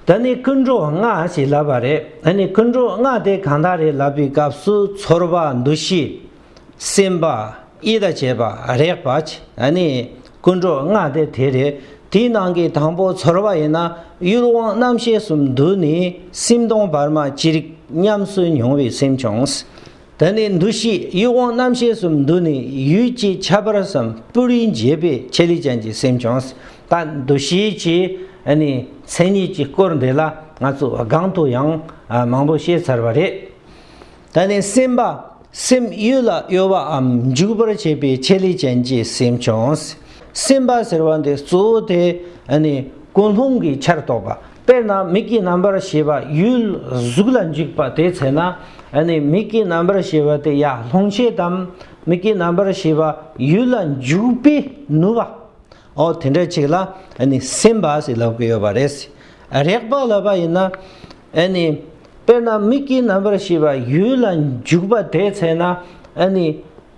ད་ནི་ཀུན་འགྲོ་ལྔ་ཞེས་ལབ་པ་རེད་ད་ནི་ཀུན་འགྲོ་ལྔ་དེ་གང་དག་རེད་ལབ་པའི་སྐབས་སུ་ཚོར་བ་འདུ་ཤེས། སེམས་པ། ཡིད་ལ་བྱེད་པ་རེག་པ། ད་ནི་ཀུན་འགྲོ་ལྔ་དེ་དེ་རེད་དེའི་ནང་གི་དང་པོ་ཚོར་བ་ཡིན་ན་ཡུལ་དབང་རྣམ་ཤེས་སུ་འདུས་ནས་སེམས་སྟོང་བར་མ་ཅི་རིགས་ཉམས་སུ་མྱོང་བའི་སེམས་བྱུང། དེ་ནས་འདུ་ཤེས་དབྱུག་དབང་རྣམ་ཤེས་སུ་འདུས་ནས་ཡུལ་གྱི་ཁྱད་པར་བསམ་པོ་རིའི་འབྱེད་པའི་ཁྱད་ལས་ཅན་གྱི་སེམས་བྱུང་ལྟ་འདུ་ཤེས་ཀྱི་མཚན་ཉིད་ཀྱི་སྐོར་འདི་ལ་ང་ཚོ་སྒང་དུ་ཡང་མང་པོ་བཤད་ཚར་བ་རེད། དེ་ནས་སེམས་པ་སེམས་ཡུལ་ལ་གཡོ་བའམ་འཇུག་པར་བྱེད་པའི་ཁྱད་ལས་ཅན་གྱི་སེམས་བྱུང། སེམས་པ་ཟེར་བ་འདི་གཙོ་བོ་དེ་ཀུན་སློང་གི་ཆར་གཏོགས་པ་དཔེར་ན་མིག་གི་རྣམ་པར་ཤེས་པ་ཡུལ་གཟུགས་ལ་འཇུག་པ་དེའི་ཚེ་ན་ནི་མིག་གི་རྣམ་པར་ཤེས་པ་དེ་ཡང་ལྷུང་བྱེད་དམ་མིག་གི་རྣམ་པར་ཤེས་པ་ཡུལ་ལ་འཇུག་པས་ནུབ་བ། འོ་དེ་འདྲ་ཅིག་ལ་ནི་སེམས་པ་ཞེས་ལབ་ཀྱི་ཡོད་པ་རེད། རེག་པ་ལབ་པ་ཡིན་ན་ནི་དཔེར་ན་མིག་གི་རྣམ་པར་ཤེས་པ་ཡུལ་ལ་འཇུག་པ་དེའི་ཚེ་ན་ནི་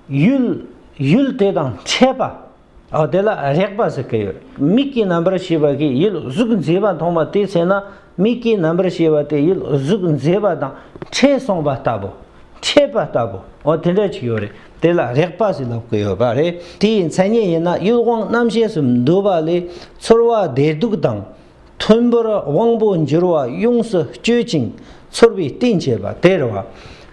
ཡུལ་ཡུལ་དེ་དང་ཆད་པ། འོ་དེ་ལ་རེག་པ་ཟེར་གི་ཡོད། མིག་གི་རྣམ་པར་ཤེས་པ་གིས་ཡུལ་གཟུགས་མཛེས་པ་མཐོང་བ་དེའི་ཚེ་ན་མིག་གི་རྣམ་པར་ཤེས་པ་དེ་ཡུལ་གཟུགས་མཛེས་པ་དང་ཕྲད་སོང་བ་ལྟ་བུ། ཕྲད་པ་ལྟ་བུ། འོ་དེ་འདྲ་ཅིག་ཡོད་རེད། དེ་ལ་རེག་པ་ཟེར་ལབ་གི་ཡོད་པ་རེད། དེའི་མཚན་ཉིད་ཡིན་ན་ཡུལ་དབང་རྣམ་ཤེས་སུ་འདུ་བ་ལས་ཚོར་བ་བདེ་སྡུག་དང། མཐོན་པོར་དབང་པོ་འགྱུར་བ་ཡོངས་སུ་གཅོད་ཅིང་ཚོར་བའི་རྟེན་བྱེད་པ་དེར་བ།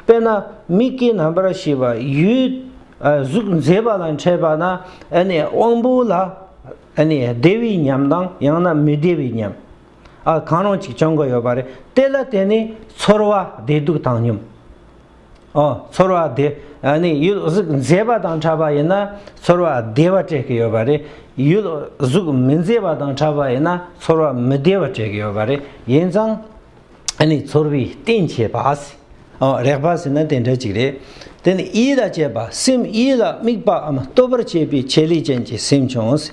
དཔེར་ན་མིག་གི་རྣམ་པར་ཤེས་པ་ཡུལ་གཟུགས་མཛེས་པ་ལ་འཕྲད་པ་ན་དབང་པོ་ལ་བདེ་བའི་ཉམས་དང་ཡང་ན་མི་བདེ་བའི་ཉམས་གང་རུང་ཅིག་བྱུང་གི་ཡོད་པ་རེད་དེ་ལ་བརྟེན་ནས་ཚོར་བ་བདེ་སྡུག་བཏང་སྙོམས། ཨོ། ཚོར་བ་བདེ། ནི་ཡུལ་གཟུགས་མཛེས་པ་དང་འཁྲབ་པ་ཡིན་ན་ཚོར་བ་བདེ་བ་སྤྲད་ཀྱི་ཡོད་པ་རེད། ཡུལ་གཟུགས་མི་མཛེས་པ་དང་འཁྲབ་པ་ཡིན་ན་ཚོར་བ་མི་བདེ་བ་སྤྲད་ཀྱི་ཡོད་པ་རེད། ཡིན་ཙང། ནི་ཚོར་བའི་རྟེན་བྱེད་པ། ཨོ། རེག་པ་ཟེར་ན་དེ་འདྲ་ཅིག་རེད། དེ་ནི་ཡིད་ལ་བྱེད་པ་སེམས་ཡིད་ལ་དམིགས་པའམ་སྟོབས་པར་བྱེད་པའི་བྱེད་ལས་ཅན་གྱི་སེམས་བྱུང།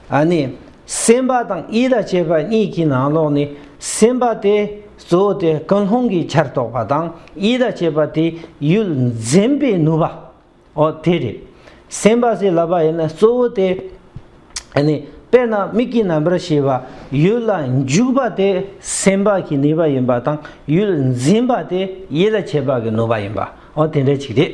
ཨ་ནི། སེམས་པ་དང་ཡིད་ལ་བྱེད་པ་གཉིས་ཀྱི་ནང་ལོགས་ནི་སེམས་པ་དེ་གཙོ་བོ་དེ་ཀུན་སློང་གི་ཆར་གཏོགས་པ་དང་ཡིད་ལ་བྱེད་པ་དེ་ཡུལ་འཛིན་པའི་ནུས་པ་འོ་དེ་རེད། སེམས་པ་ཟེར་ལབ་པ་ཡིན་ན་གཙོ་བོ་དེ་ཨ་ནི། དཔེར་ན་མིག་གི་རྣམ་པར་ཤེས་པ་ཡུལ་ལ་འཇུག་པ་དེ་སེམས་པ་གི་ནུས་པ་ཡིན་པ་དང་ཡུལ་འཛིན་པ་དེ་ཡིད་ལ་བྱེད་པ་གི་ནུས་པ་ཡིན་པ་འོ་དེ་འདྲ་ཅིག་རེད།